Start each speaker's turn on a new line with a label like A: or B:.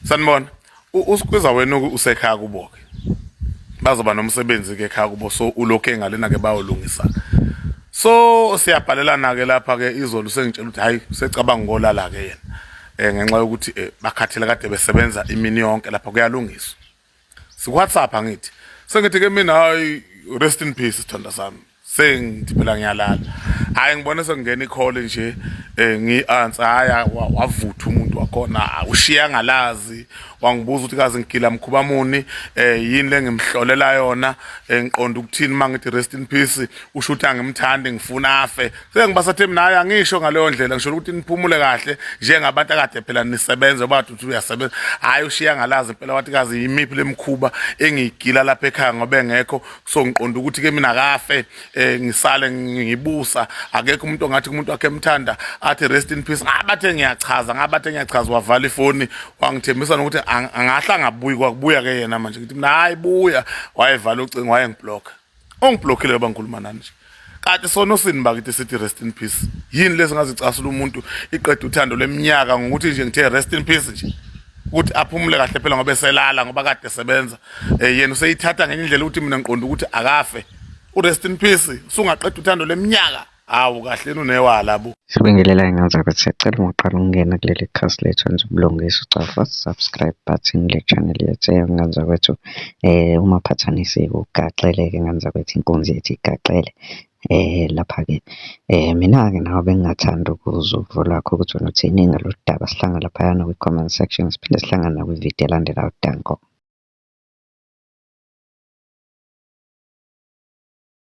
A: sanibona usikhwiza wena usekhaya kubo-ke bazoba nomsebenzi-ke ekhaya kubo so ulokhe ngalena-ke bayolungisa so siyabhalelana-ke lapha-ke izolo sengitshela ukuthi hhayi secabanga ngolala-ke yena um ngenxa yokuthi um bakhathele kade besebenza imini yonke lapha kuyalungiswa si WhatsApp angithi sengithi ke mina hayi rest in peace sithanda sami sengithi phela ngiyalala hayi ngibone sekungena ikhole nje eh ngiansa haya wavutha umuntu wakhona ushiya ngalazi wangibuza ukuthi kazi ngigila mkhuba muni eh yini lengimhlolela yona engiqonda eh, ukuthini mangithi rest in peace usho ukuthi angimthandi ngifuna afe sengibasathi mina hayi angisho ngaleyo ndlela ngisho ukuthi niphumule kahle njengabantu akade phela nisebenza bathi uthi uyasebenza hhayi ushiya ngalazi impela wathi kazi yimiphi lemikhuba engiyigila lapha ekhaya ngoba engekho so ngiqonda ukuthi-ke mina kafe um ngisale ngibusa akekho umuntu ongathi kumuntu wakhe emthanda athi rest in peace ngabathe ah, ngiyachaza ngabathe ngiyachaza wavala ifoni wangithembisa nokuthi angahle angabuyi kwakubuya-ke yena manje ngithi mina hhayi buya wayevala ucingo wayengibhlokha ongiblockile ngoba ngikhuluma nani nje kanti sona osini bakithi sithi rest in peace yini lezi ngazicasula umuntu iqeda uthando leminyaka ngokuthi nje ngithe rest in peace nje ukuthi aphumule kahle phela ngoba eselala ngoba kade esebenza eh, yena useyithatha ngenye indlela ukuthi mina ngiqonda ukuthi akafe u-rest in peace usungaqeda uthando leminyaka Hawu kahle nunewala bo. Sibingelela ingane zakho
B: siyacela uma uqala ukungena kuleli khasi lethu wenza ubulungiswa ucofa subscribe button le channel yethu eyongane zakwethu eh uma phathanisike ugaxele ke ngane zakwethu inkunzi ethi igaxele eh lapha ke eh mina ke nawe bengingathanda ukuzwa uvo lwakho ukuthi wena uthini ngalolu daba sihlangana laphayana kwi-comment section siphinde sihlangane nakwi-video elandelayo danko